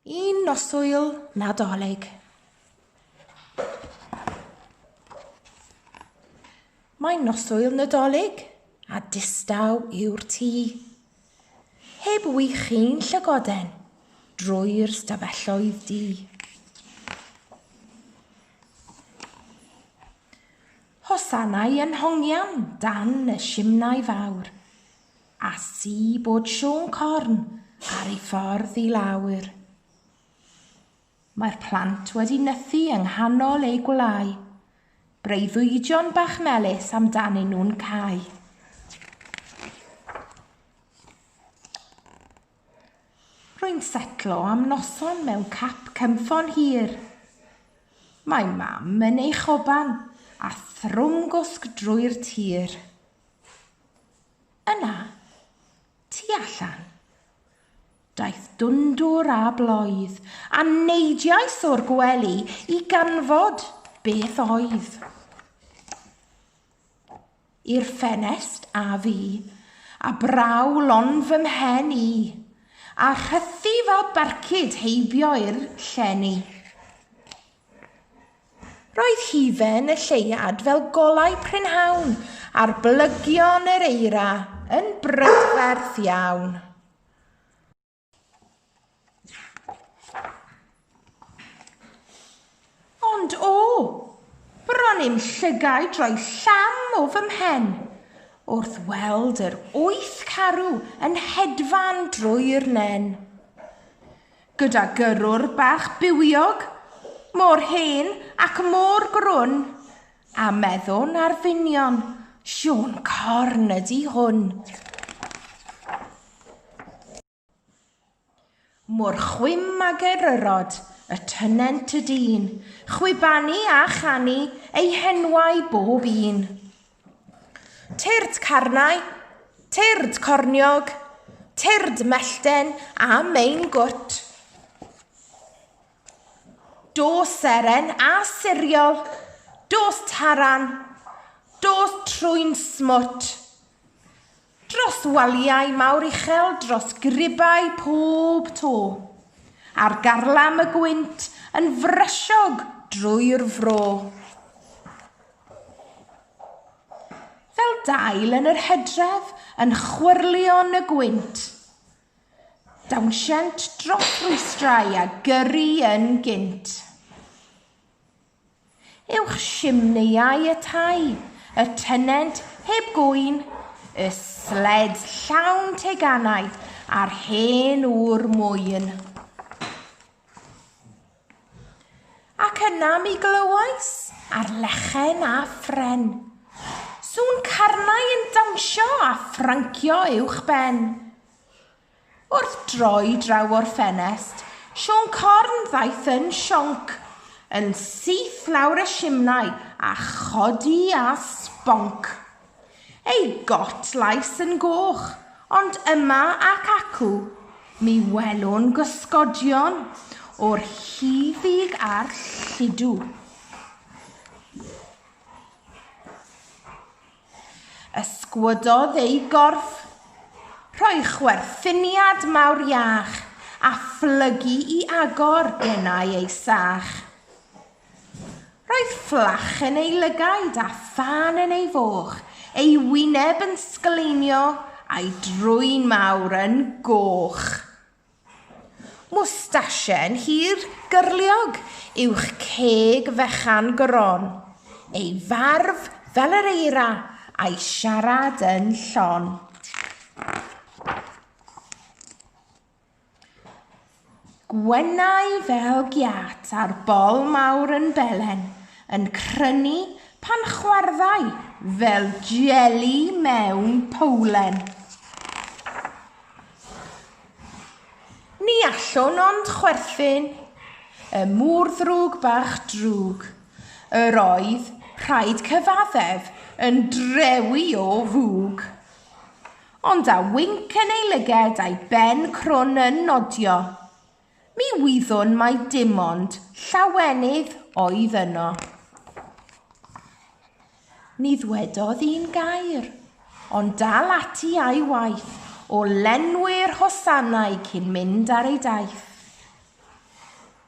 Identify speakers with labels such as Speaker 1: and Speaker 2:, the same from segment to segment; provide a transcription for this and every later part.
Speaker 1: Un noswyl nadolig. Mae noswyl nadolig a distaw yw'r tŷ. Heb wych chi'n llygoden drwy'r stafelloedd di. Hosanau yn hongian dan y simnau fawr. A si bod Siôn Corn ar ei ffordd i lawr. Mae'r plant wedi nythu yng nghanol eu gwlâu. Breuddwydion bach melys amdanyn nhw'n cau. Rwy'n setlo am noson mewn cap cynffon hir. Mae mam yn ei choban a thrwm gwsg drwy'r tir. Yna, tu allan, daeth dwndwr a bloedd, a neidiais o'r gwely i ganfod beth oedd. I'r ffenest a fi, a braw lon fy mhen i, a rhythu fel barcud heibio i'r llenni. Roedd hufen y lleuad fel golau prynhawn ar blygion yr eira yn brydferth iawn. Ond o, bron i'm llygaid roi llam o fy mhen wrth weld yr wyth carw yn hedfan drwy'r nen. Gyda gyrrwr bach bywiog, mor hen ac mor grwn, a meddwn ar finion, Siôn Corn ydi hwn. Mor chwim a geryrod y tynent y dyn, chwibanu a chanu ei henwau bob un. Tyrd carnau, tyrd corniog, tyrd mellten a mein gwt. Dos seren a siriol, dos taran, dos trwy'n smwt. Dros waliau mawr uchel, dros gribau pob to. Ar garlam y gwynt yn frysiog drwy'r fro. Fel dail yn yr hedref yn chwyrlio yn y gwynt. Dawnsient dros rwystrau a gyrru yn gynt. Uwch simneiau y tai, y tenent heb gŵyn, y sled llawn teganau a'r hen ŵr mwyn. Ac yna mi glywais ar lechen a ffren, sŵn carnau yn dawnsio a ffrancio uwch ben. Wrth droi draw o'r ffenest, Siôn Corn ddaeth yn sionc, yn syth lawr y simnai a chodi â sbonc. Ei got lais yn goch, ond yma ac acw, mi welwn gysgodion o'r huddug a'r lludw. Ysgwyddodd ei gorff, rhoi chwerthiniad mawr iach, a phlygu i agor denau ei sach. Roedd fflach yn ei lygaid a thân yn ei foch, ei wyneb yn sgleinio, a'i drwyn mawr yn goch. Mwstasien hir gyrliog uwch ceg fechan gron, ei farf fel yr eira a'i siarad yn llon. Gwennau fel giât a'r bol mawr yn belen yn crynu pan chwarddai fel jeli mewn powlen. Ni allwn ond chwerthin y murddrwg bach drwg yr oedd, rhaid cyfaddef, yn drewi o fwg. Ond â winc yn ei lyged a'i ben crwn yn nodio, Mi wyddwn mai dim ond llawenydd oedd yno. Ni ddwedodd un gair, ond dal ati a'i waith o lenwi'r hosanau cyn mynd ar ei daith.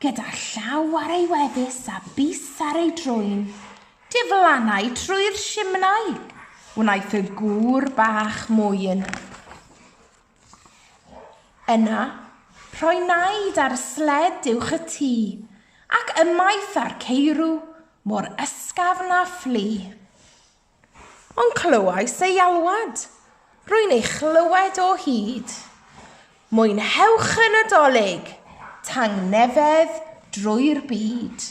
Speaker 1: Gyda llaw ar ei wefus a bys ar ei drwyn, diflannai trwy'r simnai, wnaeth y gŵr bach mwyn. Yna, rhoi naid ar sled uwch y tŷ, ac ymaith â'r ceirw, mor ysgafn na phlu. Ond clywais ei alwad, rwy'n ei chlywed o hyd. Mwynhewch y Nadolig, tangnefedd drwy'r byd.